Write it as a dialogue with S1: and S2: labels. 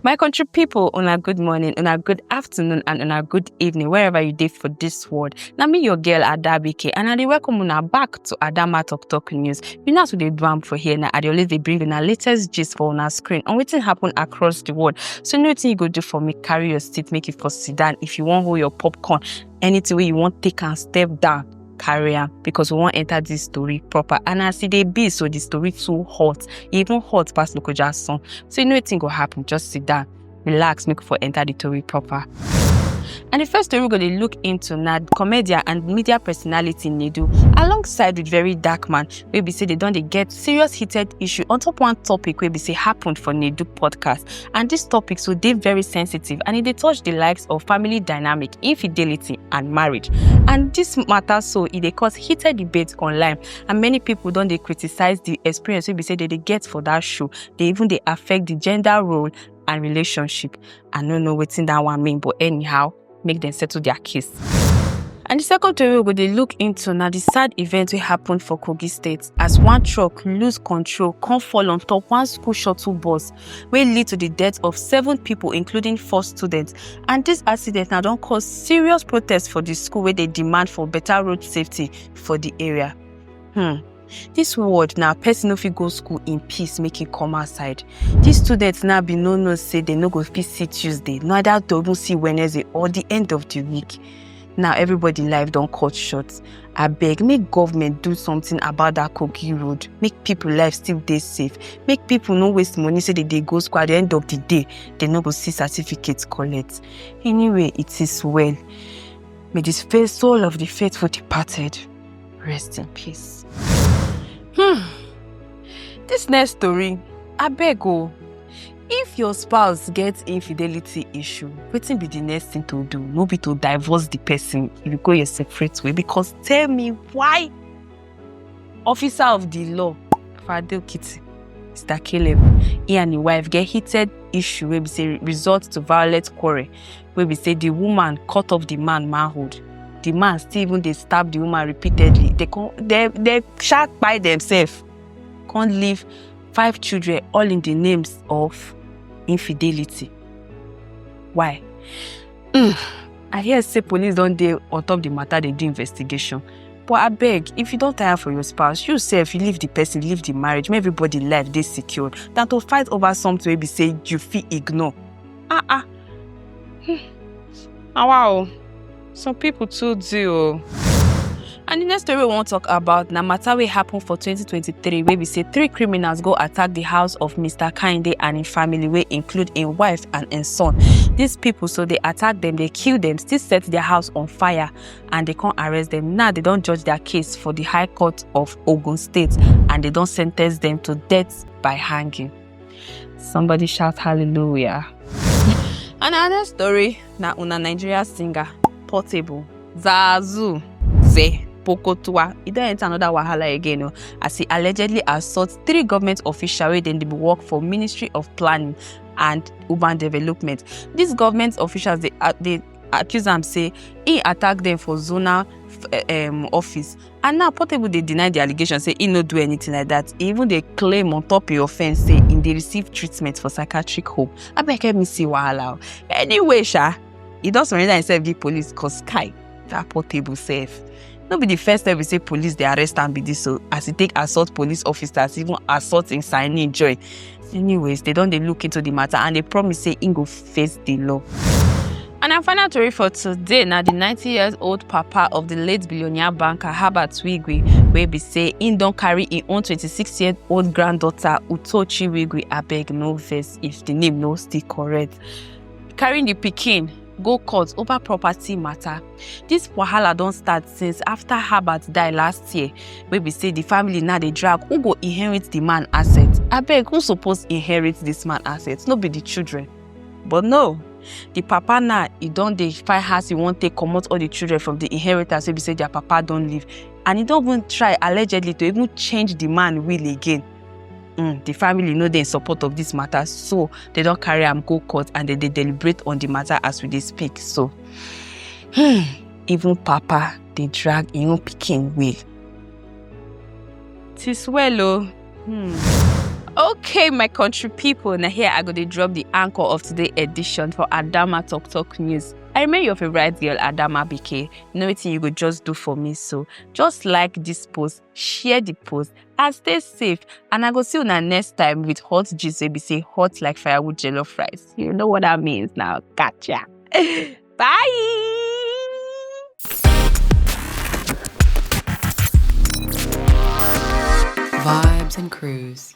S1: My country people, on a good morning, on a good afternoon, and on a good evening, wherever you did for this world. Now me your girl Adabike, and I dey welcome una back to Adama Talk Talk News. You know as we dey do am for here now, I dey always dey bring una latest gist for una screen on wetin happen across the world. So you know wetin you go do for me, carry your seat, make you for sit down if you wan hold your popcorn. anything wey you wan take am step down carry am because we wan enter this story proper and as e dey be so the story too hot e even hot pass lokoja song so you know wetin go happen just sit down relax make we for enter the story proper. And the first story we're going to look into now, comedian and media personality Nedu, alongside with very dark man, wey be say they don dey get serious heated issue on top one topic wey be say happened for Nedu podcast. And this topic so dey very sensitive and e dey touch the likes of family dynamic, infidelity and marriage. And this matter so e dey cause heated debate online and many people don dey criticize the experience wey be say they dey get for that show. They even dey affect the gender role and relationship. I no know wetin that one mean but anyhow, make dem settle their case. And the second tori we go dey look into na the sad event wey happen for Kogi State as one truck lose control come fall on top one school shuttle bus wey lead to the death of seven people including four students and this accident na don cause serious protest for the school wey dey demand for better road safety for the area. Hmm. Dis world na person no fit go school in peace make e come outside. Dis students now be no know say dem no go fit see Tuesday, neither to even see Wednesday or the end of the week. Now everybody life don cut short. Abeg make government do something about that Kogi road. Make people life still dey safe. Make people no waste money say they dey go school at the end of the day they no go see certificate collect. Anyway, it is well. May the faith soul of the faithful departed Rest in peace. Hmm. This next story, I beg oh. If your spouse gets infidelity issue, wetin be the next thing to do? No be to divorce the person if you go your separate way because tell me why officer of the law, Fadil Kitty, Mr. Caleb, he and his wife get heated issue wey be say result to violent quarrel wey be say the woman cut off the man manhood the man still even dey stab the woman repeatedly they come they they sha kpai themselves come leave five children all in the names of infidelity why mm, i hear say police don dey on top the matter dey do investigation but abeg if you don tire for your spouse you sef you leave the person leave the marriage make everybody life dey secured than to fight over something wey be say you fit ignore ah ah hmm. na wa o some people too do o. And the next story we wan talk about na matter wey happen for 2023 wey be say three criminals go attack the house of Mr. Kinde and im family wey include im wife and im son. These people so dey attack dem, dey kill dem, still set their house on fire and dey come arrest dem. Now they don judge their case for the High Court of Ogun State and they don sentence dem to death by hanging. Somebody shout hallelujah. Another story na una Nigeria singer Portable Zazu Ze Pokotua. E don enter another wahala again o oh. as he allegedly assault three government officials wey dem dey work for Ministry of Planning and Urban Development. These government officials dey uh, dey accuse am say he attack them for zonal um, office and now portable dey deny di allegation say e no do anything like dat e even dey claim on top im offence say im dey receive treatment for psychiatric home abeg help me see wahala o anyway sha e don surrender himself give police cause kai dat portable sef no be di first time we say police dey arrest am be dis o as e take assault police officers even assault im signee joy anyways dem don dey look into di matter and dey promise say im go face di law. And our final tori for today na di 90 years old papa of di late billionaire banker Herbert Wigwe wey be say im don carry im own 26 year old granddaughter Utochi Wigwe abeg no vex if di name no still correct carrying di pikin go court over property matter. Dis wahala don start since after Herbert die last year, wey be say the family now dey drag who go inherit the man asset. Abeg, who suppose inherit this man asset? No be the children? But no, the papa now e don dey find how e wan take comot all the children from the inheritance wey be say their papa don leave, and e don even try allegedly to even change the man will again. Mm, the family no dey in support of this matter, so they don carry am go court and they dey deliberate on the matter as we dey speak so. Hmm, even Papa dey drag im own pikin way. Tis well o. Hmm. Okay, my country people, now here I go to drop the anchor of today edition for Adama Talk Talk News. I remain your favorite girl, Adama BK. Know what you go just do for me, so just like this post, share the post and stay safe and i go see una next time with hot gist wey be say hot like firewood jollof rice you know what that means now gotcha bye Vibes and Cruise.